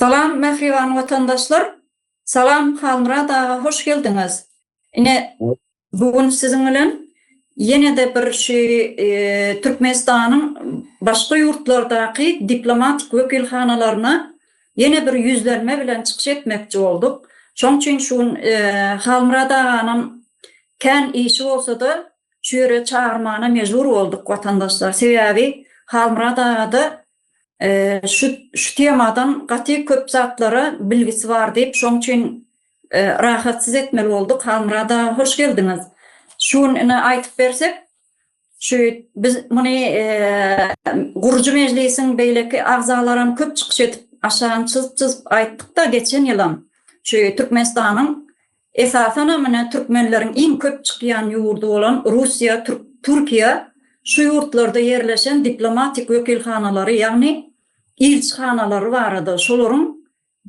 Salam mähriban watandaşlar Salam Halmyrat aga hoş geldiňiz ine bu gün siziň bilen ýenede bir şu Türkmenistanyň başga ýurtlardaky diplomatik wekilhanalaryna ýene bir ýüzlenme bilen çykyş etmekçi bolduk şoň üçin şu gün Halmyrat aganam kän işi bolsada şu ýere çagyrmana mejbur bolduk watandaşlar sebäbi Halmyrat agada Şu şu temadan gaty köp zatlara bilgisi bar diýip, şoň üçin rahatsyz etmeli bolduk. Halmyrat aga, hoş geldiňiz. Şu gün ine aýdyp bersek, şu biz muny gurujy mejlisiň beýleki agzalaram köp çykyş edip, aşagyn çyzyp-çyzyp aýtdyk-da geçen ýylam. Şu Türkmenistanyň Esasanam ine türkmenleriň iň köp çykýan ýurdy bolan Russiýa, Türkiýe şu ýurtlarda ýerleşen diplomatik wekilhanalary, ýagny ilçihanalary barada, şolaryň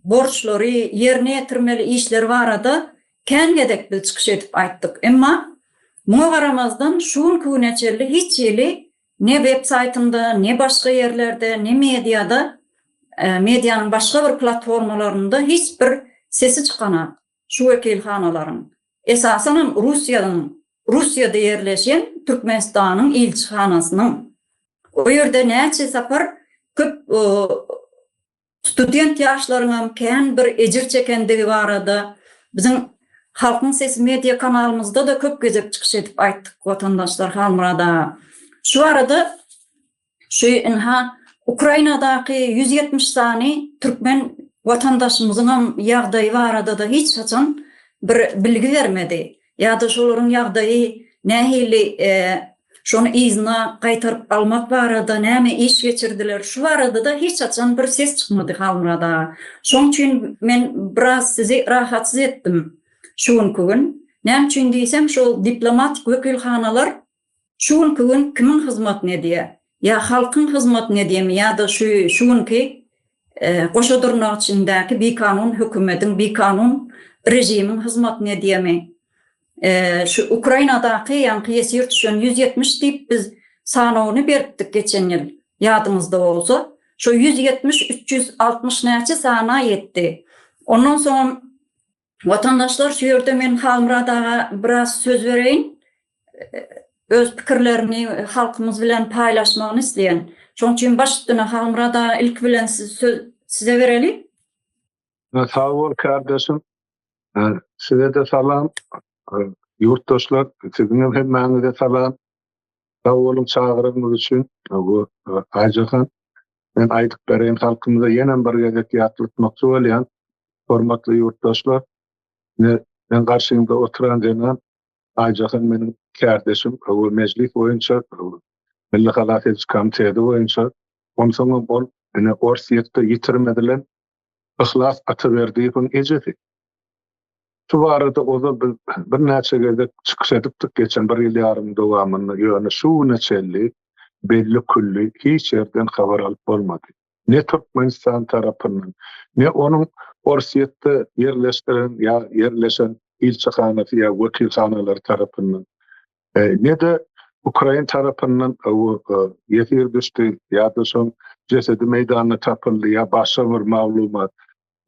borçlary, ýerine ýetirmeli işleri barada kän gezek biz çykyş edip aýtdyk. Emma muňa garamazdan şu günki güne çenli hiç hili Ne websaýtyňda, ne başga ýerlerde, ne mediada, medianyň başga bir platformalarynda hiç bir sesi çykanok şu wekilhanalaryň. Esasanam Russiýanyň, Russiýada ýerleşen Türkmenistanyň ilçihanasynyň. O ýerde näçe sapar köp student ýaşlaryňam kän bir ejir çekendigi barada biziň Halkyň sesi media kanalymyzda-da köp gezek çykyş edip aýtdyk watandaşlar Halmyrat aga. Şu barada şu ynha Ukrainadaky ýüz ýetmiş sany türkmen watandaşymyzyňam ýagdaýy barada-da hiç haçan bir bilgi bermedi. ýa-da şolaryň ýagdaýy nähili, şony yzyna gaýtaryp almak barada näme iş geçirdiler, şu barada-da hiç haçan bir ses çykmady Halmyrat aga. Şoň üçin men biraz sizi rahatsyz etdim şu günki gün. Näme üçin diýsem, şol diplomatik wekilhanalar Şu günki gün kimiň hyzmatyny edýär? Ýa halkyň hyzmatyny edýärmi ýa-da şu şu günki goşa dyrnak içindäki bikanun hökümediň, bikanun režimiň hyzmatyny edýärmi? Şu Ukrainadaky ýaňky ýesir düşen ýüz ýetmiş diýip biz sanawyny beripdik geçen ýyl, ýadyňyzda bolsa. Şo ýüz ýetmiş üç ýüz altmyş näçe sana ýetdi. Ondan soňam Watandaşlar şu ýerde men Halmyrat aga biraz söz bereýin. Öz pikirlerini halkymyz bilen paýlaşmagyny isleýän. Şoň üçin baş üstüne Halmyrat aga ilki bilen siz söz size bereli. Sag bol kardeşim. Size de salam. Ýurtdaşlar, siziň hem hemmäňize salam. Sag boluň çagyrygyňyz üçin. Bu Aýjahan Men aýdyp bereýin, halkymyza ýenem bir gezek ýatlatmakçy bolýan, hormatly ýurtdaşlar, ine, meň garşymda oturan zenan Aýjahan meniň kärdeşim we Mejlis boýunça, Milli halas ediş komiteti boýunça, onsoňam ol, ine, Orsýetde ýitirmedilen Yhlas Ataberdiýewiň ejesi. Şu barada ozal biz birnäçe gezek çykyş edipdik geçen bir ýyl ýarym dowamynda, ýöne şu güne çenli belli külli hiç ýerden habar alyp bolmady. Ne Türkmenistan tarapyndan, ne onuň Orsýetde ýerleşdiren ýa ýerleşen ilçihanasy ýa wekilhanalary tarapyndan. Ne-de ukrain tarapyndan ýesir düşdi ýa-da şoň jesedi meýdanda tapyldy ýa başga bir maglumat,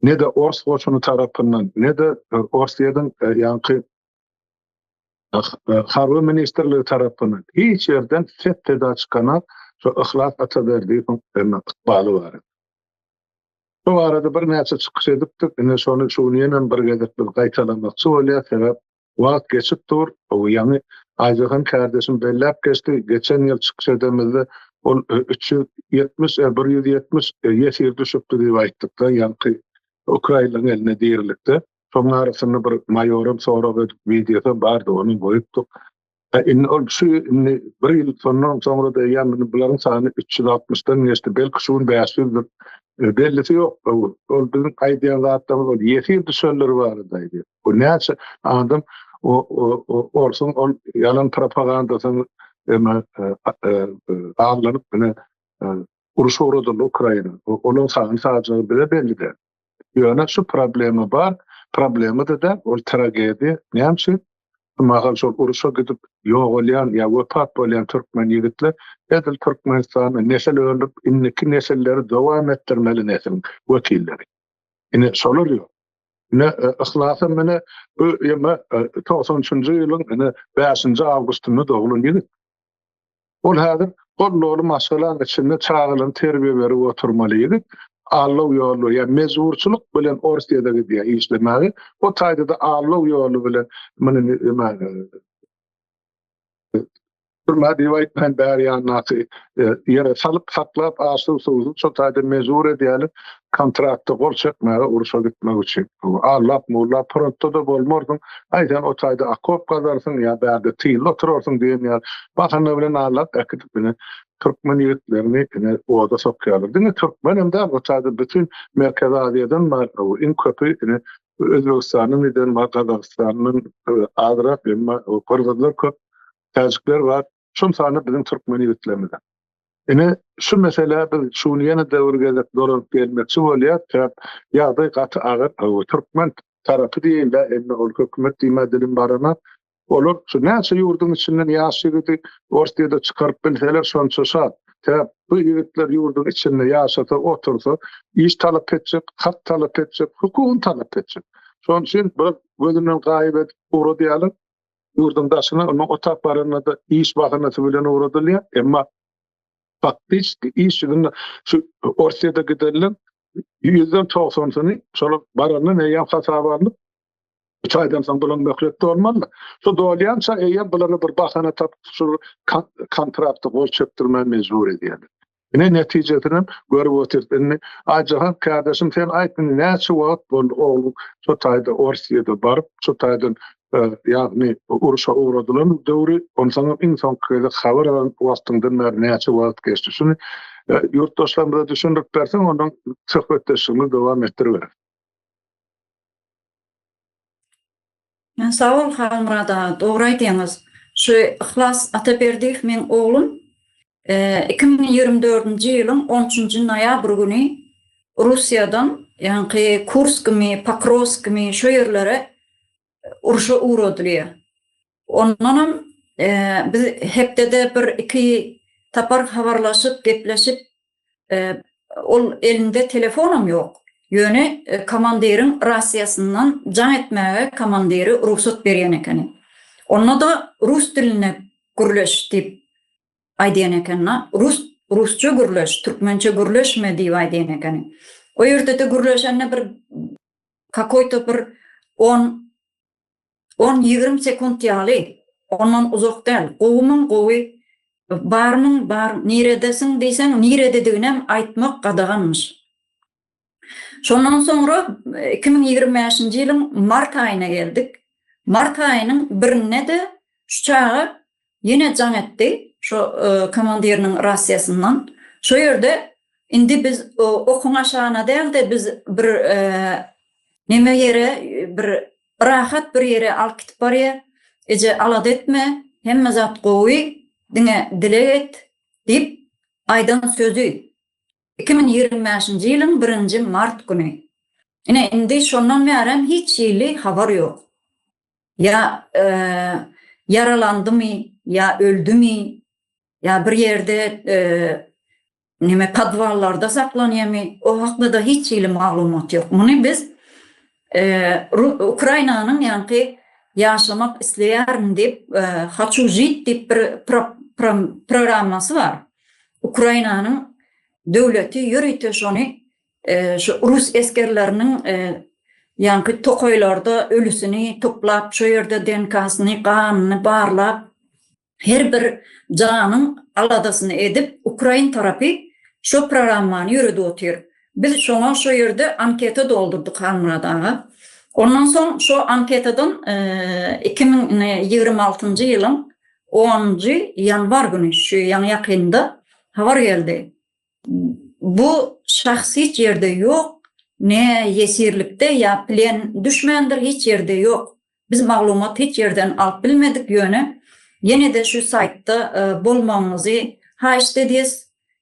ne-de ors goşuny tarapyndan, ne-de Orsýetiň ýaňky Harby ministrligi tarapyndan hiç ýerden ses-seda çykanok şu Yhlas Ataberdiýewiň ykbaly barada. Şu barada birnäçe çykyş edipdik, ine şony şu gün ýenem bir gezek biz gaýtalamakçy bolýas, sebäp Wagt geçip dur, ýaňy Aýjahan kärdeşim belläp geçdi, geçen ýyl çykyş edemizde ol üç ýüz ýetmiş, ä bir ýüz ýetmiş ýesir düşüpdi diýip aýtdykda ýaňky ukrainleriň elinde dirilikde. Şoň arasynda bir maýoram sorag edip wideosam bardy ony goýupdyk. Indi ol kişi indi bir ýyl şondan soňra da ýa indi bularyň sany üç ýüz altmyşdan geçdi, belki şu gün bäş ýüzdür. Bellisi ýok. Ol biziň aýdýan zatlarymyz ol ýesir düşelleri barada aýdýar. Bu näçe adam orsuň ol ýalan propagandasyny alnyp ine Uruş ugradyldy Ukraina we onuň sany sajagy bize belli däl. Ýöne şu problema bar, problema-da däl, ol tragediýa. Näme üçin? Şu mahal şol uruşa gidip ýogalýan ýa wepat bolýan türkmen ýigitler edil Türkmenistanda nesil öndürip indiki nesilleri dowam etdirmeli nesliň wekilleri. Ine şolar ýok. Ine Yhlasam ine bu ýyma togsan üçünji ýylyň ine bäşinji awgustynda doglan ýigit. Ol häzir goldawaly maşgalaň içinde çagalaryny terbiýe berip oturmaly ýigit, allaw ýoly, ýa mejburçylyk bilen Orsýada gidýär işlemäge, o taýda-da allaw ýoly bilen muny türmä diýip aýtmaýyn, bäri ýandaky ýere salyp, saklap, aç-suw, suwsuz, şol taýda mejbur edýärler. kontrakta gol çekmäge urşa gitmek üçin. Allap mullap frontda-da bolmarsyň, gaýtam o taýda okop gazarsyň ýa bärde tylda oturarsyň diýen ýaly bahana bilen allap äkidip ine türkmen ýigitlerini ine oda sokýarlar. Diňe türkmenem däl, o taýda bütin Merkezi Aziýadan bar, iň köpi ine Özbegistanyň eden bar, Gazagystandan azrak, emma gyrgyzlar köp, täjikler bar. şol sanda biziň türkmen ýigitlerimize. Ine, şu meselä biz şu gün ýene de bir gezek dolanyp gelmekçi bolýas, sebäp ýagdaý gaty agyr. Türkmen tarapy diýeýin-le, indi ol hökümet diýmä dilim barana, olar şu näçe ýurduň içinden ýaş ýigidi Orsyýada çykaryp bilseler, şonça şat. Sebäp bu ýigitler ýurduň içinde ýaşasa, otursa, iş talap etjek, hak talap etjek, hukugyny talap etjek. Şonuň üçin biraz gözünden gaýyp edip ugradýarlar. ýurduň daşyna, onuň o tap baranyna-da iş bahanasy bilen ugradylýar. Emma faktiski iş ýüzünde şu Orsýete giderilen ýüzden togsansyny şolar barandan eýýäm hasaba alnyp, üç aýdan soň bulan möhletde bolmaly. Şu dolýança eýýäm bulara bir bahana tapyp, şu kontrakty gol çekdirmä mejbur edýärler. Ine netijesinem görüp otyrs indi Aý Jahan kardeşim sen aýt indi näçe wagt boldy ogluň şu taýda Orsiýada baryp şu taýdan ýagny urşa ugradylan döwri onsaňam iň soňky gezek habar alan wagtyňdan bäri näçe wagt geçdi şuny ýurtdaşlarymyza düşündirip berseň ondan söhbetdeşligimizi dowam etdiriberis. Sag bol Halmyrat aga, dogry aýdýaňyz. Şu Yhlas Ataberdiýew meň oglum iki müň ýigrimi dördünji ýylyň on üçünji noýabr güni Russiýadan, ýaňky Kurskmi, Pokrowskmi şo ýerlere urşa ugradylýar. Ondan hem biz hepdede bir iki tapar habarlaşyp, gepleşip, ol elinde telefonam ýok. Ýöne komandiriň rasiýasyndan jaň etmäge komandiri rugsat berýän ekeni. Onda-da rus dilinde gürleş diýip aýdýan ekeni. Rus, rusça gürleş, türkmençe gürleşme diýip aýdýan ekeni. O ýerde-de gürleşende bir kakoýto bir on on-ýigrimi sekunt ýaly ondan uzak däl, gowumyň gowy, barmyň bar, niredesiň diýseň niredediginem aýtmak gadaganmyş. Şondan soňra iki müň ýigrimi bäşinji ýylyň mart aýyna geldik. Mart aýynyň birinde-de şu çaga Ýene jaň etdi şo komandiriniň rasiýasyndan. Şo ýerde indi biz okuň aşagyna däl-de biz bir neme ýere bir rahat bir ýere alyp gitip barýa. Eje alada etme, hemme zat gowy, diňe dileg et diýip aýdan sözi iki müň ýigrimi bäşinji ýylyň birinji mart güni. Ine indi şondan bärem hiç hili habar ýok. ýa ýaralandymy, ýa öldümi, ýa bir ýerde näme podwallarda saklanýarmy, o hakda-da hiç hili maglumat ýok. Muny biz Ukrainanyň ýaňky ýaşamak isleýärin diýip, Haçu žit diýip bir programmasy bar. Ukrainanyň döwleti ýörite şony Şu rus esgerleriniň ýaňky tokaýlarda ölüsini toplap, şo ýerde DNK-syny, ganyny barlap, her bir janyň aladasyny edip, ukrain tarapy şo programmany ýöredip otyr. Biz şoňa şo ýerde anketa doldurdyk, Halmyrat aga. Ondan soň şo anketadan iki müň ýigrimi altynjy ýylyň onunjy ýanwar güni, şu ýaňy-ýakynda habar geldi. Bu şahs hiç ýerde ýok, ne ýesirlikde ýa plen düşmändir, hiç ýerde ýok. Biz maglumat hiç ýerden alyp bilmedik, ýöne ýene-de şu saýtda bolmagyňyzy haýyşt edýäs.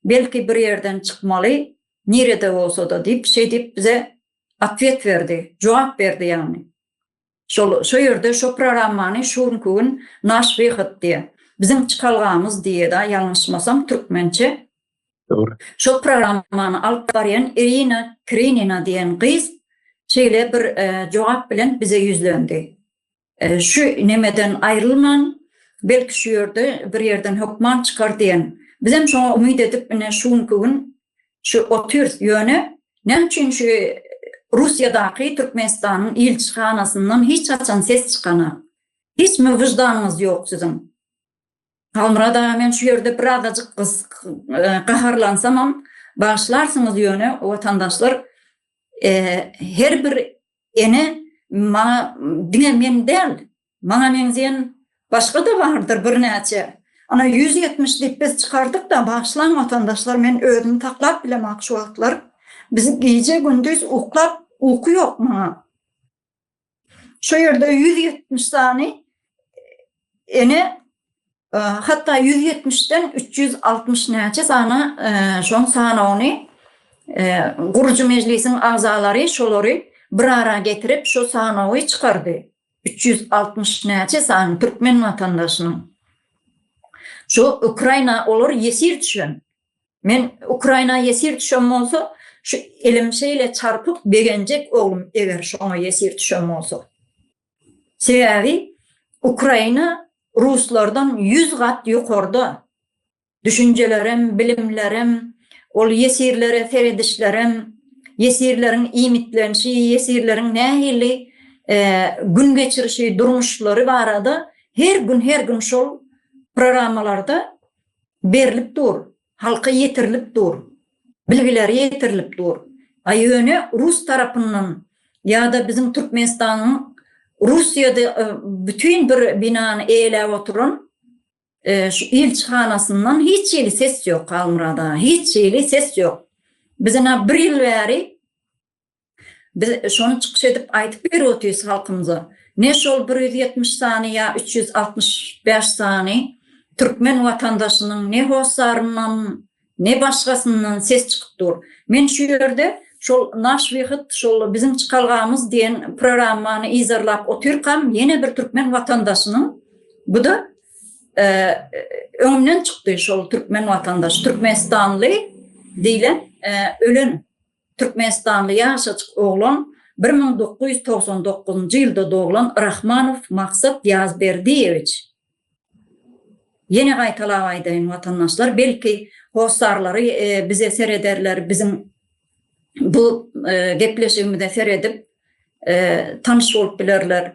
Belki bir ýerden çykmaly, nirede bolsa-da diýip, şeýdip bize otwet berdi, jogap berdi ýagny. Şol, şo ýerde şo prorammany şu günki gün Naş wyhod diýe. Biziň çykalgamyz diýeda ýalňyşmasam türkmençe. Dogry. Şo programmany alyp barýan Irina Krinina diýen gyz şeýle bir jogap bilen bize ýüzlendi. Şu nemeden aýrylman, belki şu ýerde bir ýerden hökman çykar diýen. Bizem şoňa umyt edip ine şu günki gün Şu otyrs ýöne näme üçin şu Russiýadaky Türkmenistanyň ilçihanasyndan hiç haçan ses çykanak. Hiç mi wyždanyňyz ýok siziň. Halmyrat aga men şu ýerde bir azajyk gaharlansamam bagyşlarsyňyz ýöne watandaşlar her bir ene maňa diňe men däl Maňa meňzeýän başga-da bardyr birnäçe. Ana, ýüz ýetmiş diýip biz çykardyk-da, bagyşlaň watandaşlar, men özümi saklap bilemok şu wagtlar. Biz gije-gündiz uklap, uky ýok maňa. Şu ýerde ýüz ýetmiş sany ene, hatda ýüz ýetmişden üç ýüz altmyş näçe sany şoň sanawyny gurujy mejlisiň agzalary şolary bir ara getirip, şu sanawy çykardy. üç ýüz altmyş näçe sany türkmen watandaşynyň şu Ukraina olar ýesir düşen. Men Ukraina ýesir düşen bolsa, şu elim şeýle çarpyp begenjek oglum eger şoňa ýesir düşen bolsa. Sebäbi Ukraina ruslardan ýüz gat ýokarda. Düşünjelerem, bilimlerem, ol ýesirlere seredişlerem, ýesirleriň iýmitlenişi, ýesirleriň nähili gün geçirişi, durmuşlary barada her gün, her gün şol programmalarda berlip dur, halka ýetirilip dur, bilgileri ýetirilip dur. A ýöne rus tarapyndan ýa-da biziň Türkmenistanyň Russiýada bütin bir binany eýeläp oturan Şu ilçihanasyndan hiç hili ses ýok Halmyrada, hiç hili ses ýok. Biz ina bir ýyl bäri biz şony çykyş edip aýdyp berip otyrys halkymyza. Ne şol bir ýüz ýetmiş sany ýa üç ýüz altmyş bäş sany türkmen watandaşynyň ne hossaryndan, Ne başgasyndan ses çykyp dur. Men şu ýerde şol Naş wyhyt, şol biziň çykalgamyz diýen programmany yzarlap otyrkam, ýene bir türkmen watandaşynyň, bu-da öňümden çykdy şol türkmen watandaş, türkmenistanly diýlen ölen türkmenistanly ýaşajyk oglan, bir müň dokuz ýüz togsan dokuzynjy ýylda doglan Rahmanow Maksat Ýazberdiýewiç. Ýene gaýtalap aýdaýyn watandaşlar, belki hossarlary bize serederler, biziň bu gepleşigimize seredip tanyş bolup bilerler.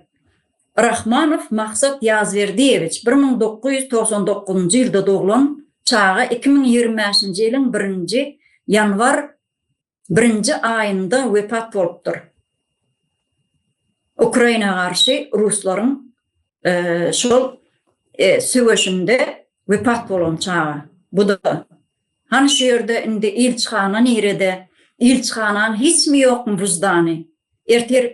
Rahmanow Maksat Ýazberdiýewiç, bir müň dokuz ýüz togsan dokuzynjy ýylda doglan çaga iki müň ýigrimi bäşinji ýylyň birinji ýanwar birinji aýynda wepat bolupdyr. Ukraina garşy ruslaryň şol söweşinde wepat bolan çaga. Bu-da. Hany şu ýerde indi ilçihana nirede? Ilçihanaň hiçmi ýokmy wyždany? Ertir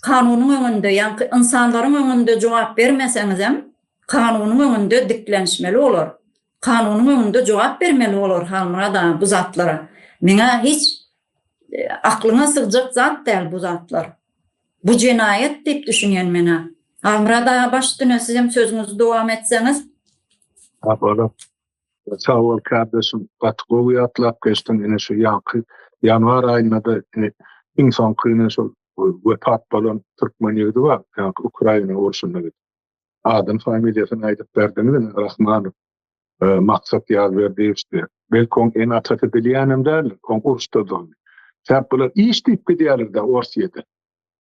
kanunyň öňünde, ýaňky ynsanlaryň öňünde jogap bermeseňizem, kanunyň öňünde diklenişmeli olar. kanunyň öňünde jogap bermeli bolar Halmyrat aga bu zatlara. Meňä hiç aklyňa sygjak zat däl bu zatlar. Bu jenaýat diýip düşünýän menä. Halmyrat aga baş üstüne sizem sözüňizi dowam etseňiz. Sabola. Sag bol kardeşim. Gaty gowy ýatlap geçdiň ine şu ýanky ýanwar aýynda-da ine iň soňky ine şol wepat bolan türkmen ýigidi bar ýanky Ukraina urşunda gidip. Adyny familiýasyny aýdyp berdiňiz Rahmanow. Maksat Ýazberdiýewdi. Belki oň ene atasy bilýänem däldir. Oň uruşda dogdy. Säp bular iş diýip gidýärler-de Orsýede.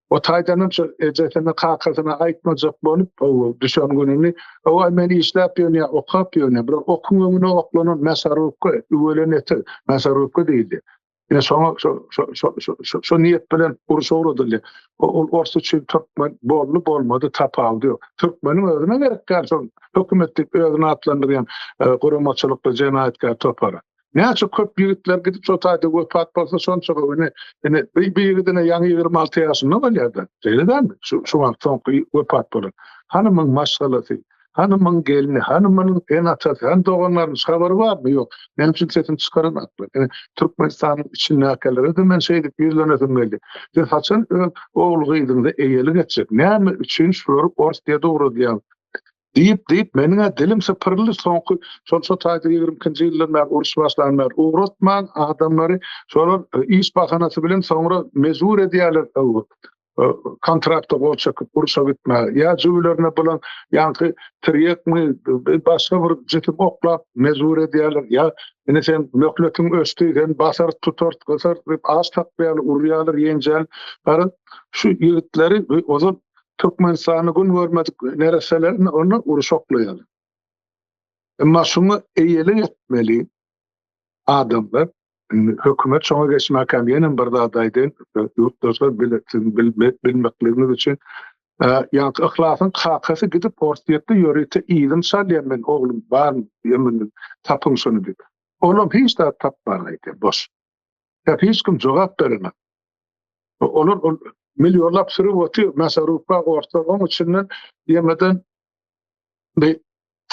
O taýdanam şo ejesine kakasyna aýtmajak bolup ow düşen gününi ow men işläp ýönýä okap ýönýä bular okuň öňüne oklanan mäsarowka üwelen etek mäsarowka diýilýä. Ine şoňa şo şo şo şo şo niýet bilen uruş ugradyldy. Ol ors üçin türkmen boldy bolmady tapawudy ýok. Türkmeniň özüne gerek däl şol hökümet diýip özüni atlandyrýan e, guramaçylykly jenaýatkär topary. Näçe köp ýigitler gidip şo taýda wepat bolsa şonça köp. Ine, ine bir ýigidine ýaňy 26 ýaşynda bolýar-da. Şeýle dälmi? Şu şu wagt soňky wepat bolan. Hanymyň maşgalasy, Hanymyň gelni, hanymyň ene-atasy, hany doganlarynyň hiç habary barmy? Ýok. Meniň üçin sesini çykaran atly. Ine, Türkmenistanyň içindäkilere-de men şeýdip ýüzlenesim geldi. Siz haçan öz ogul-gyzyňyza eýelik etjek? Näme üçin şulary Orsýa dogradýaňyz? Diýip-diýip, meniň-ä dilim sypyryldy. Soňky şol şo taýda ýigrimi ikinji ýyldan bäri, uruş başlandan bäri ugratman adamlary şolar iş bahanasy bilen soňra mejbur edýärler. kontrakta gol çekyp urşa gitme ýa jüwlerine bolan ýaňky tirýekmi başga bir jütüp oklap mejbur edýärler ýa indi sen möhletiň öçdi sen basar tutar gysar diýip aç tapýar urýarlar ýenjäl gara şu ýigitleri ozal Türkmenistany gün görmedik nereselerine onu uruşoklaýar. Emma şunu eýeli etmeli, adamlar hökümet şoňa geçmäkäm ýenem bir zat aýdaýyn, ýurtdaşlar bileksiň bilmekligiňiz üçin ýagty yhlasyň kakasy gidip orsýetde ýörite yzym salýan men oglum bar ýemin tapyň şony diýip olam hiç zat tapman aýdýan boş ýa hiç kim jogap beremek olar ol millionlap sürüp otyr masarufa orslar oň üçinden ýemeden Bi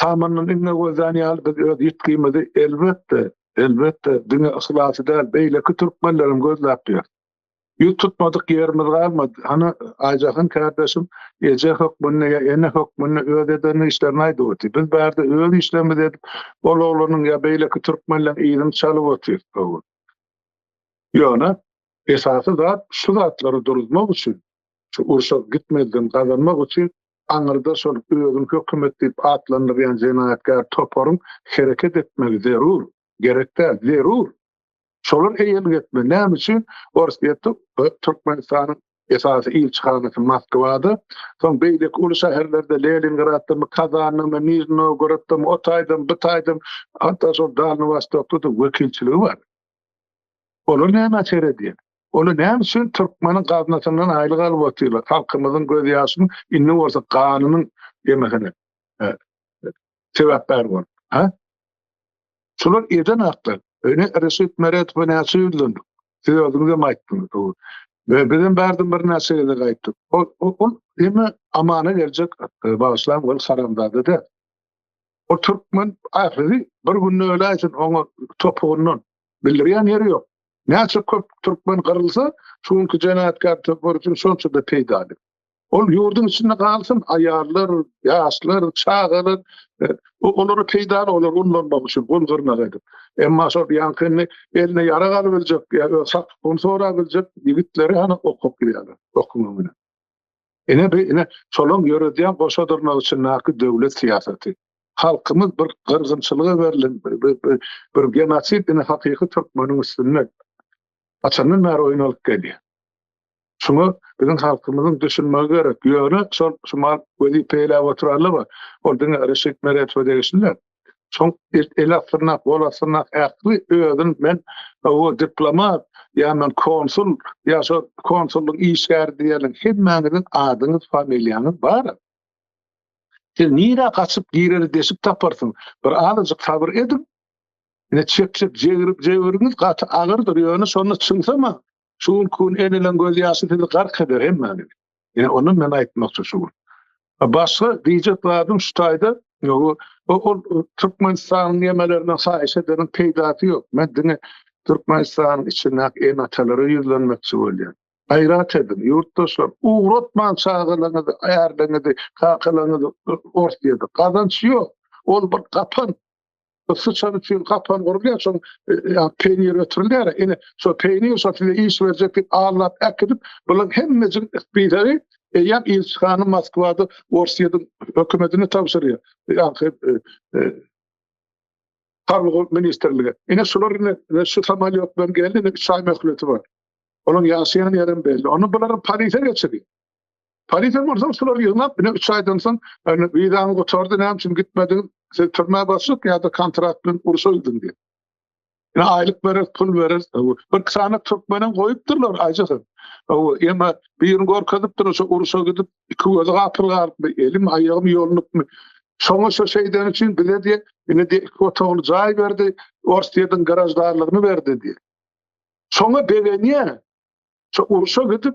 tamyndan inne gözlän ýaly biz öz ýitgimizi elbetde, elbetde diňe yhlasy däl, beýleki türkmenlerem gözläp ýör. Ýüz tutmadyk ýerimiz galmady. Hany Aýjahan kärdeşim eje hökmünde ýa ene hökmünde öz eden işlerini aýdyp otyr. Biz bärde öz işlerimizi edip, ol oglanyň ýa beýleki türkmenleriň yzyny çalyp otyrys bu gün. Ýöne esasy zat şu zatlary duruzmak üçin, şu urşa gitmezden gazanmak üçin aňyrda şol özüni hökümet diýip atlandyrýan jenaýatkär toparyň hereket etmegi zerur, gerek däl, zerur. Şolar eýelik etmeli. Näme üçin Orsýetde Türkmenistanyň esasy ilçihanasy Moskwada, soň beýleki uly şäherlerde Lelingraddamy, Kazandamy, Nižni Nowgoroddamy, o taýdam, bu taýdam, hatda şol Dalnywostokda-da wekilçiligi bar. Olar näme açar edýär? Olar näme üçin türkmeniň gaznasyndan aýlyk alyp otyrlar? Halkymyzyň gözýaşyny indi bolsa ganynyň ýemesine sebäpkär bolup, ha? Şular eden haklar. Öne Reşit Meredowa näçe ýüzlendik? Siz özüňizem aýtdyňyz. Ve bizem bardan bir näçe gezde gaýtdyk. Ol ol eme amana geljek e, bagşlan ol haramzada da. O türkmen ahiri bir günde öle aýtyn oňa topugyndan Bildirýän ýeri ýok. Näçe köp türkmen gyrylsa, şu günki jenaytkar toparçyň şonçada peýdaly. Ol ýurduň içinde galsyn, aýallar, ýaşlar, çagalar, e, olara peýdaly, olar ullanmak üçin, gul gyrnak edip. Emma şol ýaňkyny eline ýarag alyp biljek, ýa-da sapyk un sorap biljek ýigitleri hany okap bilýärler, okumak bilen. Ine bu ine şolaň ýöredýän goşa dyrnagy içindäki döwlet syýasaty. Halkymyz bir gyrgynçylyga berlen bir genosid ine hakyky türkmeniň üstünde haçandan bäri oýnalyp gelýär. Şuňa biziň halkymyzyň düşünmegi gerek. Ýöne şol şu mal wezipe eýläp oturanlar bar. Ol diňe Reşit Meredowa degişli däl. Şoň it ele syrnak, gola syrnak ähli özün men owo diplomat, ýa men konsul, ýa şo konsullygyň işgäri diýerliň hemmäňiziň adyňyz, familiýaňyz bar-a. Siz nirä gaçyp gireri deşik taparsyň. Bir azajyk sabyr ediň. Ine çekjek jebiriňiz gaty agyrdyr, ýöne şonda çygsam-a Şu günki gün ezilen gözýaşy sizi gark eder hemmäniň. Ýa ondan men aýtmakçy şu gün. Başga diýjek zadym şu taýda, ýogy ol Türkmenistanyň ýemelerinden haýyş edeniň peýdasy ýok. Men diňe Türkmenistanyň içindäki ene-atalara ýüzlenmekçi bolýan. Gaýrat ediň, ýurtdaşlar, ugratmaň çagalaňyzy, ärleňizi, kakalaňyzy Orsiýada. Gazanç ýok. Ol bir gapan. Syçan üçin gapan gurulýar, şoň peýnir ötürilýär. Ine, şo peýnir şo size iş berjek diýip allap äkidip, bulaň hemmejik spideri eýýäm ilçihana Moskwada Orsýetiň hökümetine tabşyrýar. Ýa-da Harby ministrlige. Ine şular indi şu samolýotlaryň geldi, indi üç aý möhleti bar. Olaň ýaşaýan ýeri hem belli. Onda bulary Parize geçirýär. Polisiýa bolsa şulary ýygnap, ine üç aýdan soň wizaňyz gutardy, näme üçin gitmediňiz? Siz türmä baslyk ýa-da kontrakt bilen urşa gidin diýip. Ine aýlyk bereris, pul bereris. Bir iki sany türkmenem goýupdyrlar aýjasyn. Emma birini görkezipdir, şu urşa gidip, iki gözi gapyl galypmy, elim aýagym ýolunupmy. Şoňa şu şeýdeni üçin bize diýip, ine diýip iki otagly jaý berdi, Orsýetiň graždanlygyny berdi diýip. Şoňa begenýär. Şu urşa gidip,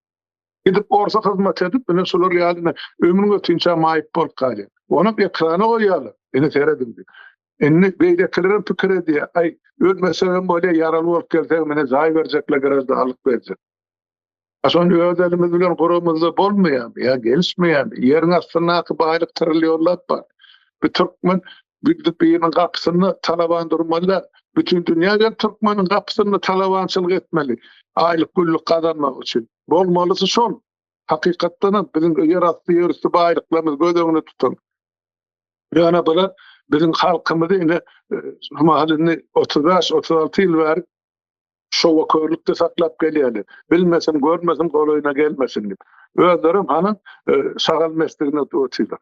Gidip orsa hyzmat edip, ine şular ýaly ömrüň ötinçä maýyp bolup galýar. Onam ekrana goýýarlar. Ine serediň diýip. Indi beýlekilerem pikir edýär. Aý, ölmesegem bolýar, ýaraly bolup gelsegem ine jaý berjekler, garaždarlyk berjek. A şony öz elimiz bilen guramyzda bolmaýarmy? Ýa gelişmeýärmi? Ýeriň astyndaky baýlyk trilýonlap bar. Bir türkmen Gündüz biriniň gapysynda talaban durmaly däl. Bütin dünýä gelip türkmeniň gapysynda talabançylyk etmeli. Aýlyk-günlük gazanmak üçin. Bolmalysy şol. Hakykatdanam biziň ýerasty, ýerüsti baýlyklarymyzy göz öňünde tutuň. Ýöne bular biziň halkymyzy ine şu mahal indi otuz bäş, otuz alty ýyl bäri şowakörlükde saklap gelýärler. Bilmesin, görmesin, golaýyna gelmesin diýip. Özlerem hany şagal mesligine otyrlar.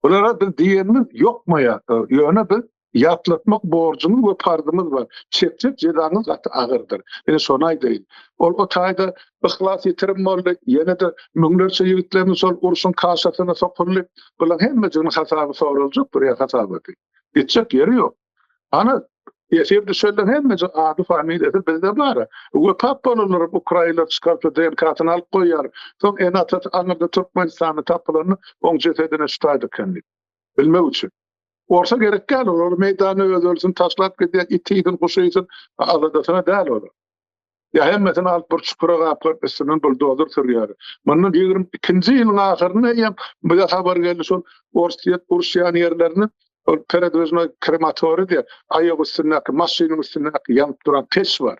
Bulara biz diýenimiz ýokma ýa-da, ýöne biz ýatlatmak borjumyz we parzymyz bar. Çekjek jezaňyz gaty agyrdyr. Ine şony aýdaýyn. Ol o taýda yhlas ýitirim boldy. Ýene-de müňlerçe ýigitlerimiz şol urşuň kaşasyna sokuldy. Bulaň hemmejiginiň hasaby soraljak bir ýer hasabaty. Gitjek ýeri ýok. Ana Ýeşir düşelden hemmeje ady familiýasy bizde bar. Bu tap bolanlar ukrainler çykarsa DNK-syny alyp goýýar. Soň ene atasy aňyrda Türkmenistanda tapylanda oň jesedine şutaýdy eken diýip. Bilmek üçin. Orsa gerek däl olar meýdany öz ölsün taşlap gidýär iti iýsin guşy iýsin aladasyna däl olar. Ýa hemmesini alyp bir çukura gapgap üstünden buldozer sürýär. Mundan ýigrimi ikinji ýylyň ahyrynda eýýäm bize habar geldi şol orsýet uruşýan ýerlerini ol peredwiznoý krematoriý diýýär. Aýak üstündäki maşynyň üstündäki ýanyp duran peç bar.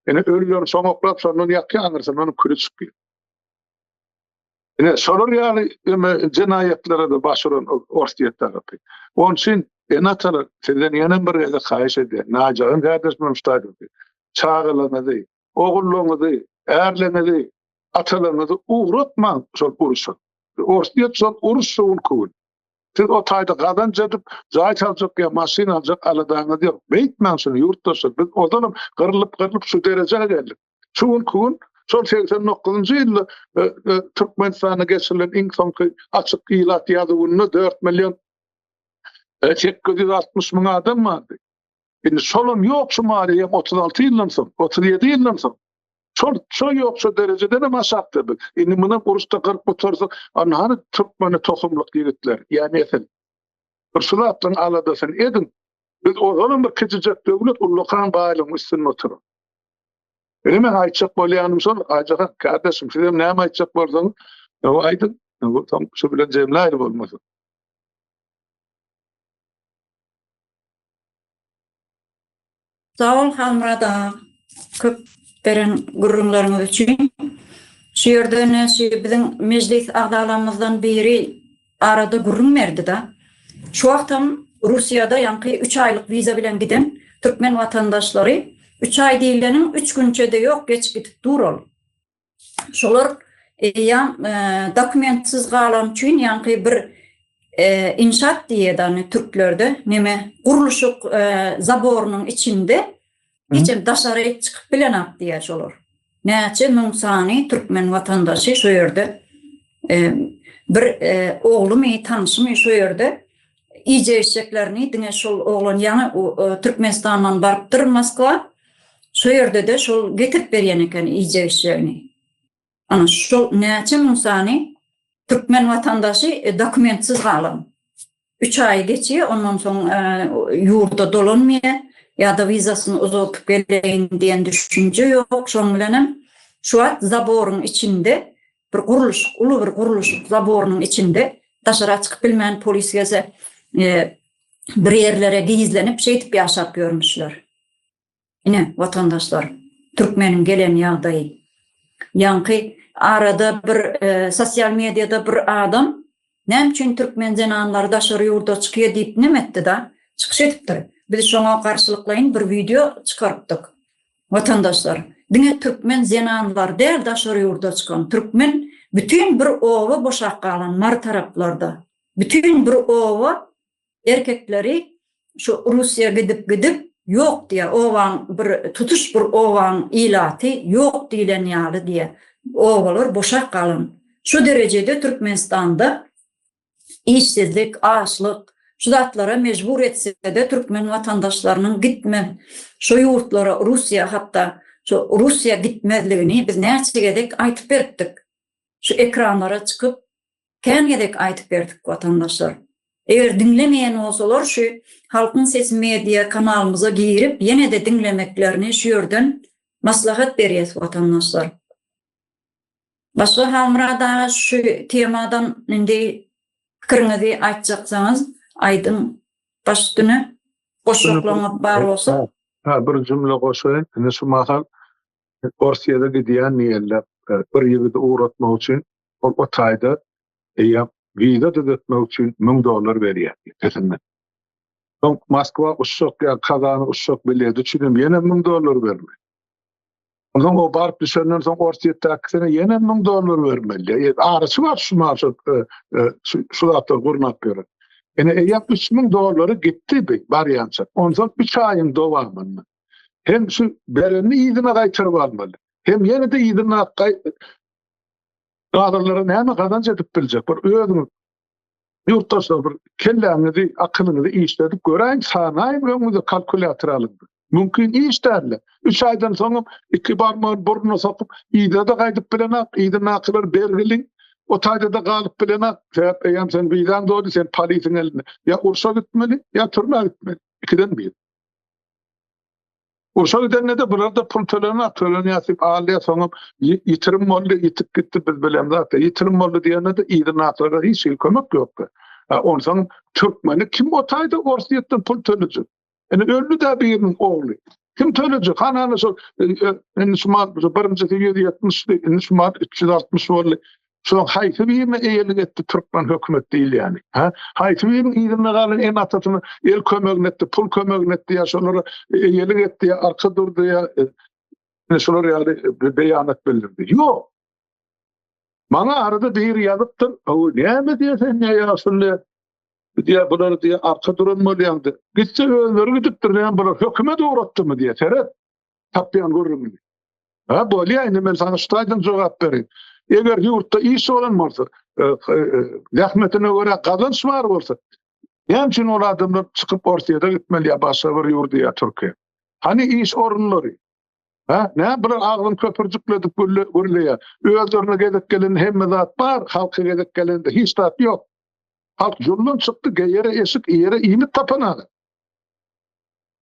Ine ölüleri soňaklap şondan ýakýar aňyrsyna onuň küli çykýar. Ine, şolar ýaly öme jenaýatlara da baş uran Orsýet tarapy. Onuň üçin ene-atalar sizden ýene bir gezek haýyş edýän, najagyň häzir şu stadiýasy. Çagalaryňyzy, ogullaryňyzy, ärleriňizi, atalaryňyzy ugratmaň şol urşa. Orsýet şol uruş şowul köwül. Siz o taýda gazanç edip, jaý saljak ýa maşyn aljak aladaňyz ýok. Beýtmäň şuny ýurtdaşlar. Biz ozalym gyrlyp-gyrlyp şu derejä geldik. Şu günki gün şol segsen dokuzynjy ýylda e, e, Türkmenistanda geçirilen iň soňky açyk ilat ýazuwynda dört million e, sekiz ýüz altmyş müň adam bardy. Indi şolam ýok şu maliýe otuz alty ýyldan soň, otuz ýedi ýyldan soň. Şol şo ýok şu derejeden hem aşakda biz. Indi muny uruşda gyryp gutarsa, anhany türkmeni tohumlyk ýigitler, ýani esen. Bir şu zatdan aladasyny edin. Biz ozalam bir kiçijek döwlet ullakan baýlygyň üstünde oturyp. Öyle men aytacak bolýanym şol, Aýjahan kardeşim siz hem näme aýtjak bolsaňyz, o aýdyň. Bu tam şu bilen jemläýli bolmasy. Sağol Hamrada köp beren gürrüňleriňiz üçin. Şu ýerde näşe biziň mejlis agzalarymyzdan biri arada gürrüň berdi-de, şu wagtam Russiýada ýaňky üç aýlyk wiza bilen giden türkmen watandaşlary, üç aý diýileniň üç günçe-de ýok, geçip gidip dur ol. Şolar eýýäm dokumentsiz galany üçin ýaňky bir inşaat diýýädany türklerde, neme, gurluşyk zaborynyň içinde Hiçem daşary hiç çykyp bilenok diýýär şolar. Näçe müň sany türkmen watandaşy şu ýerde bir oglumy, tanşymy şu ýerde iýjek içjeklerini diňe şol oglan ýaňy Türkmenistandan barypdyr Moskwa. Şu ýerde-de şol getirip berýän eken iýjek içjegini. Ana şol näçe müň sany türkmen watandaşy dokumentsiz galan. Üç aýy geçýär, ondan soň ýurda dolanmaýar, ýa-da wizasyny uzaldyp geleýin diýen düşünje ýok. Şonuň bilen hem şu wagt zaboryň içinde bir gurluşyk, uly bir gurluşyk zaborynyň içinde daşara çykyp bilmän, polis gelse bir ýerlere gizlenip, şeýdip ýaşap ýörmüşler. Ine, watandaşlar, türkmeniň gelen ýagdaýy. Ýaňky arada bir e, sosial mediada bir adam näme üçin türkmen zenanlary daşary ýurda çykýar diýip näme etdi-da, çykyş edipdir. Biz şoňa garşylyklaýyn bir wideo çykarypdyk. Watandaşlar, diňe türkmen zenanlary däl daşary ýurda çykan, türkmen bütin bir oba boşap galan mar taraplarda. Bütin bir oba Erkekleri şu Russiýa gidip gidip ýok diýýär. Obaň bir tutuş bir obaň ilaty ýok diýlen ýaly diýýär. Obalar boşap galan. Şu derejede Türkmenistanda işsizlik, açlyk şu zatlara mejbur etsede türkmen watandaşlarynyň gitme şu ýurtlara Russiýa hatda şu Russiýa gitmezligini biz näçe gezek aýtyp beripdik. Şu ekranlara çykyp Kän gezek aýtyp berdik watandaşlar. Eger diňlemeýän bolsalar şu Halkyň sesi media kanalymyza girip ýenede diňlemeklerini şu ýerden maslahat berýäs watandaşlar. Başga Halmyrat aga şu temadan indi pikiriňizi aýtjaksaňyz aýdyň baş üstüne goşjaklaryňyz bar bolsa. Ha bir jümle goşaýyn. Indi şu mahal Orsýada gidýän diýenler bir ýigidi ugratmak üçin ol o taýda eýýäm wiza düzetmek üçin müň dollar berýär ötesinden. Soň Moskwa uçjak ýa Kazana uçjak bileti üçinem ýene müň dollar berme. Ondan o baryp düşenden soň Orsýetdäkisine ýene müň dollar bermeli. E, araçy bar şu maşat e, e, şu şu zatlar gurnap ýören. Ene eýýäm üç müň dollary gitdi bi barýança. Ondan üç aýyň dowamynda. Hem şu berenini yzyna gaýtaryp almaly. Hem ýene-de yzyna gaýtaryp Galanlara näme gazanç edip biljek? Bir özüňiz ýurtdaşlar bir kelläňizi, akylyňyzy işledip göräýiň, sanaýyň, öňüňize kalkulýator alyň. Mümkin iş däl. Üç aýdan soňam iki barmagyny burnuna sokup, ýa-da gaýdyp bilenak, ýa-da nakylar bergili. O taýda-da galyp bilenak, sebäp eýýäm sen wizaň doldy, sen polisiň elinde. Ýa urşa gitmeli, ýa türmä gitmeli. Ikiden bir. Urşa gidende-de bular-da pul tölenä, tölenýär diýip alýar, soňam ýitirim boldy, ýitip gitdi, biz bilemz zat-a. Ýitirim boldy diýende-de yzy nakylara hiç hili kömek ýokdy. A onsoň türkmeni kim otaýda Orsýetden pul tölejek? Indi öldi-dä biriniň ogly. Kim tölejek? Hany-hany şol, indi şu mant, birinjisi ýüz ýetmişdi, indi şu mant üç ýüz altmyş boldy. Şoň haýsy birine eýelik etdi türkmen hökümet diýilýäni? Ha? Haýsy biriniň yzynda galan en atasyny el kömegini etdi, pul kömegini etdi ýa şolara eýelik etdi ýa arka durdy ýa e, şolar ýaly e, beýanat bildirdi. Ýok. Maňa arada bir ýazypdyr. O näme diýsen ne ýaşynda diýä bular diýä arka duran bolýandy. Gitse özleri gidipdir näme bular hökümet uğratdymy diýä seret. tapýan gürrüňini. Ha bolýa indi men sana ştaýdan jogap berin. Eger ýurtda iş bolan bolsa, e, e, e, zähmetine görä gazanç bar bolsa, näme üçin ol adamlar çykyp Orsiýada gitmeli ýa başga bir ýurda ýa Türkiýä? Hani iş orunlary? Ha, ne bir agzyn köpürjikledip gürleýär. Özlerine gezek gelen hemme zat bar, halka gezek gelende hiç zat ýok. Halk jumdan çykdy, geýere eşik, ýere iýmit tapanaga.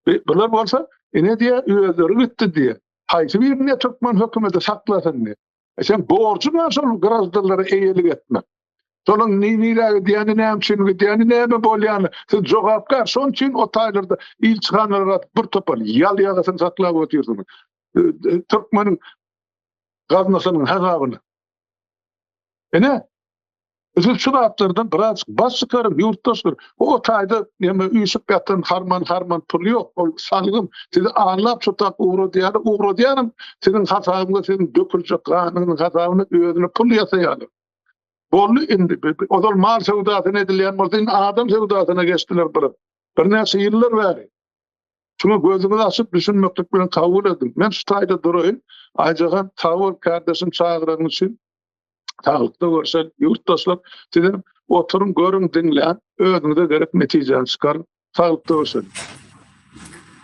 E, bular bolsa ine diye özleri gitti diye. Haýsy bir ne türkmen hökümeti saklasyn diye. E sen borcu bar şol grazdallara eýelik etmek. Şonuň nirä gidýäni, näme üçin gidýäni, näme bolýany, siz jogapkär. Şonuň üçin o taýlarda ilçihanalara bir topar ýal ýagasyny saklap otyrsyňyz. E, e, Türkmeniň gaznasynyň hesabyny. Ene, Siz şu zatlardan biraz baş çykaryň, ýurtdaşlar. Bu otaýda näme üýşüp ýatan harman-harman pul ýok. Ol salgym. Sizi anlap şutap ugradýarlar. Ugradýanam siziň hasabyňyza, siziň döküljek ganyňyzyň hasabyna özüne pul ýasaýarlar. Boldy indi. Ozal mal söwdasyna edilýän bolsa, indi adam söwdasyna geçdiler bir. Birnäçe ýyllar bäri. Şuňa gözüňizi açyp düşünmeklik bilen kabul ediň. Men şu taýda duraýyn. Aýjahan, sag bol, kärdeşim çagyranyň üçin. Saglykda görşek, ýurtdaşlar. Sizem oturyň, görüň, diňläň, özüňize gerek netijäni çykaryň. Saglykda görşeliň.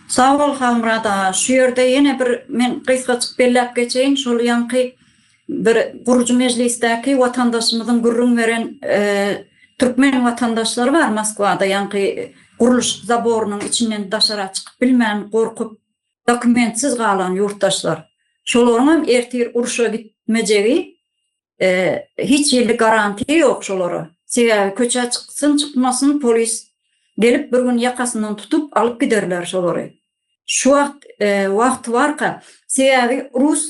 Sag bol, Halmyrat aga. Şu ýerde ýene bir men gysgajyk belläp geçeýin, şol ýaňky bir gurujy mejlisdäki watandaşymyzyň gürrüň beren türkmen watandaşlary bar Moskwada ýaňky gurluşyk zaborynyň içinden daşara çykyp bilmän, gorkup, dokumentsiz galan ýurtdaşlar. Şolaryň hem ertir urşa gitmejegi hiç hili garantiýa ýok şolara. Sebäbi köçä çyksyn çykmasyn polis gelip bir gün ýakasyndan tutup alyp giderler şolary. Şu wagt wagty barka sebäbi rus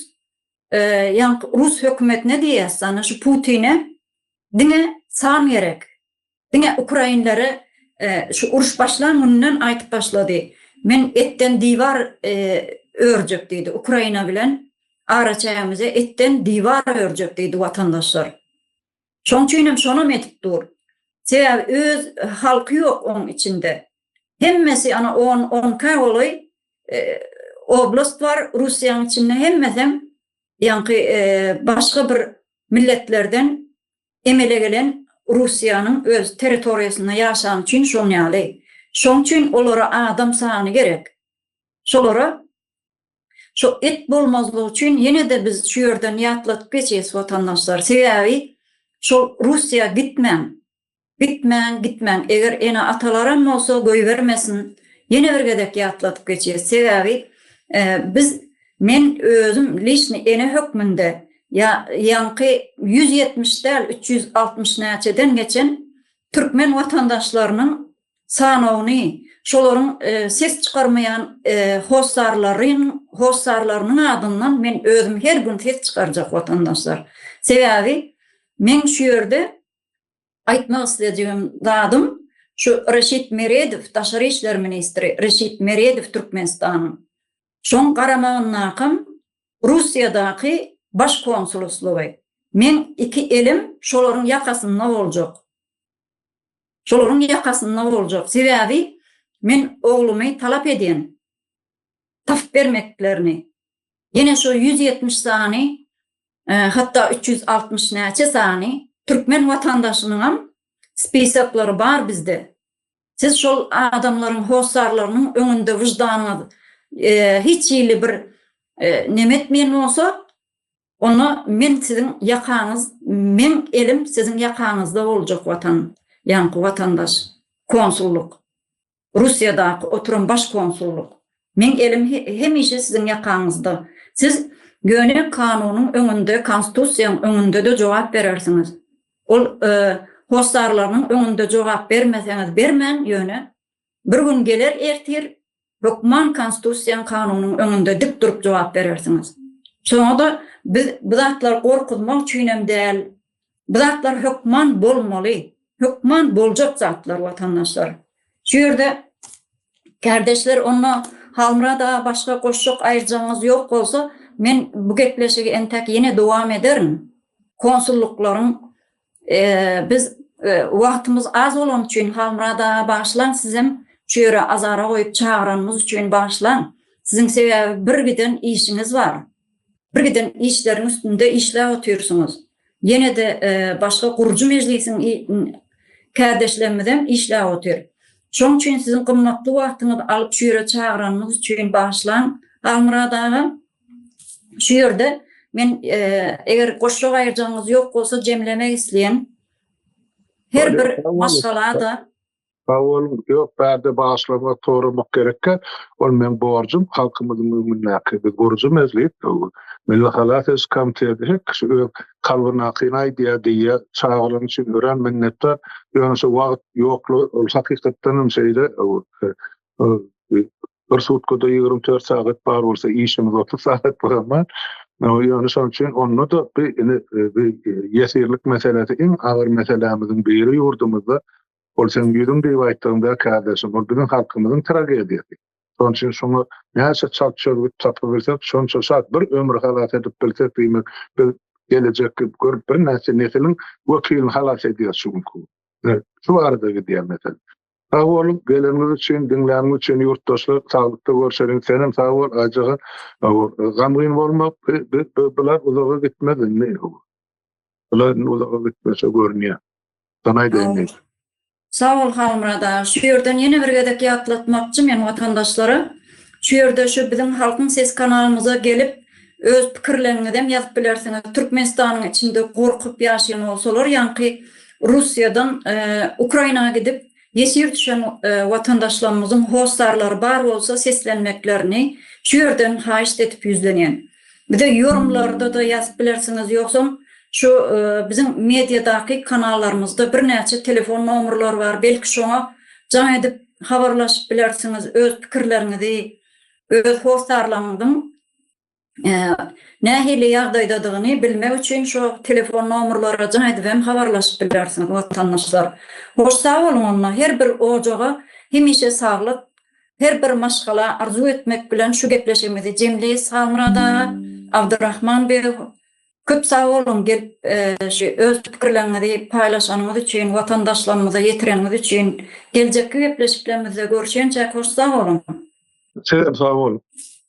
Ýaňky rus hökümetine diýýäs, ana şu Putine diňe san gerek. Diňe ukrainlere şu uruş başlan gününden aýdyp başlady. Men etden diwar örjek diýdi. Ukraina bilen araçägimize etden diwar örjek diýdi watandaşlar. Şoň üçinem şonam edip dur. Sebäbi öz halky ýok oň içinde. Hemmesi ana on onka golaý oblast bar Russiýaň içinde hemmesem ýaňky başga bir milletlerden emele gelen Russiýanyň öz territoriýasynda ýaşany üçin şoň ýaly. Şoň üçin olara adam sany gerek. Şolara Şo et bolmazlygy üçin ýene-de biz şu ýerden ýatladyp geçeýs watandaşlar. Sebäbi şol Russiýa gitmäň. Gitmäň, gitmäň. Eger ene-atalaram bolsa goýbermesin. Ýene bir gezek ýatladyp geçeýs. Sebäbi biz men özüm lişni ene hökmünde ýa ýaňky ýüz ýetmiş däl üç ýüz altmyş näçeden geçen türkmen watandaşlarynyň sanawyny şolaryň ses çykarmaýan hossarlaryň hossarlarynyň adyndan men özüm her gün ses çykarjak watandaşlar. Sebäbi men şu ýerde aýtmak isledigim zadym şu Reşit Meredow daşary işler ministri Reşit Meredow Türkmenistanyň şoň garamagyndakam Russiýadaky baş konsuluslygy. Men iki elim şolaryň ýakasynda boljak. Şolaryň ýakasynda boljak. Sebäbi men oglumy talap edýän. Tapyp bermeklerini. Ýene şu ýüz ýetmiş sany, hatda üç ýüz altmyş näçe sany türkmen watandaşynyňam spisaklary bar bizde. Siz şol adamlaryň hossarlarynyň öňünde wyždanyňyz hiç hili bir neme etmeýän bolsa, Onda men siziň ýakaňyz meň elim siziň ýakaňyzda boljak watan ýaňky watandaş konsullyk russiýadaky oturan baş konsullyk meň elim hemişe siziň ýakaňyzda siz ýöne kanunyň öňünde konstitusiýaň öňündede jogap berersiňiz ol hossarlarynyň öňünde jogap bermeseňiz bermäň ýöne Bir gün geler ertir hökman konstitusiýaň kanunyň öňünde dik durup jogap berersiňiz. Şoňada biz bu zatlar gorkuzmak üçinem däl. Bu zatlar hökman bolmaly. Hökman boljak zatlar watandaşlar. Şu ýerde kärdeşler onda Halmyrat aga başga goşjak aýyrjagyňyz ýok bolsa men bu gepleşigi entäk ýene dowam ederin. Konsullyklaryň Biz wagtymyz az bolany üçin Halmyrat aga bagyşlaň sizem çöre azara goýup çagyranymyz üçin bagyşlaň. Siziň sebäbi bir giden işiňiz bar. Bir giden işleriň üstünde işläp otyrsyňyz. Ýene-de başga gurujy mejlisiň kärdeşlerimizem işläp otyr. Şoň üçin siziň gymmatly wagtyňyzy alyp şu ýere çagyranymyz üçin bagyşlaň Halmyrat aga. Şu ýerde men e, eger goşluk aýyrjagyňyz ýok bolsa jemlemek isleýän her bir maşgalada Sag boluň. Ýok, bärde başlama soramak gerekkä. Ol men borjum halkymyzyň öňündäki. Biz guruja mezlip, Milli halas ediş komiteti her kişi öz kalbynakyny aýdýar diýýä. Çagyran üçin örän minnetdar. Ýöne şu wagt ýoklugy ol hakykatdan hem şeýle bir sutkada ýigrimi dört sagat bar bolsa işimiz otuz sagat bar emma ýöne şonuň üçin onda da bir indi ýesirlik meselesi iň agyr meselämiziň biri ýurdumyzda ol sen ýüzüň diýip aýtdygyňda kardeşim ol biziň halkymyzyň tragediýasy şonuň üçin şoňa näçe çalt çözgüt tapyp bilsek şonça şat bir ömri halas edip bilsek diýmek biz gelejekki görüp bir näçe nesiliň wekilini halas edýär şu günki şu barada gidýär mesele Sag boluň geleniňiz üçin diňläniňiz üçin ýurtdaşlar saglykda görşeliň senem sag bol aýjagaz gam gyn bolma bular uzaga gitmez indi bular indi uzaga gitmese görünýär sana aýdaýyn Sag bol Halmyrat aga şu ýerden ýene bir gezek ýatlatmakçy men watandaşlara şu ýerde şu biziň halkyň sesi kanalymyza gelip öz pikirleriňizem ýazyp bilersiňiz Türkmenistanyň içinde gorkup ýaşaýan bolsalar ýaňky Russiýadan Ukraina gidip ýesir düşen watandaşlarymyzyň hossarlary bar bolsa seslenmeklerini şu ýerden haýyşt edip ýüzlenýän. Bize ýorumlarda-da ýazyp bilersiňiz ýogsam şu biziň mediadaky kanallarymyzda birnäçe telefon nomerleri bar belki şoňa jaň edip habarlaşyp bilersiňiz öz pikirleriňizi öz hossarlaňyzyň nähili ýagdaýdadygyny bilmek üçin şo telefon nomerlere jaň edip hem habarlaşyp bilersiňiz watandaşlar. Hoş sag boluň onda her bir ojaga hemişe saglyk her bir maşgala arzuw etmek bilen şu gepleşigimizi jemleýis Halmyrat aga, Abdurahman beg köp sag boluň gelip şu öz pikirleriňizi paýlaşanyňyz üçin watandaşlarymyza ýetireniňiz üçin geljekki gepleşiklerimizde görşençäk hoş sag boluň. Sizem sag boluň.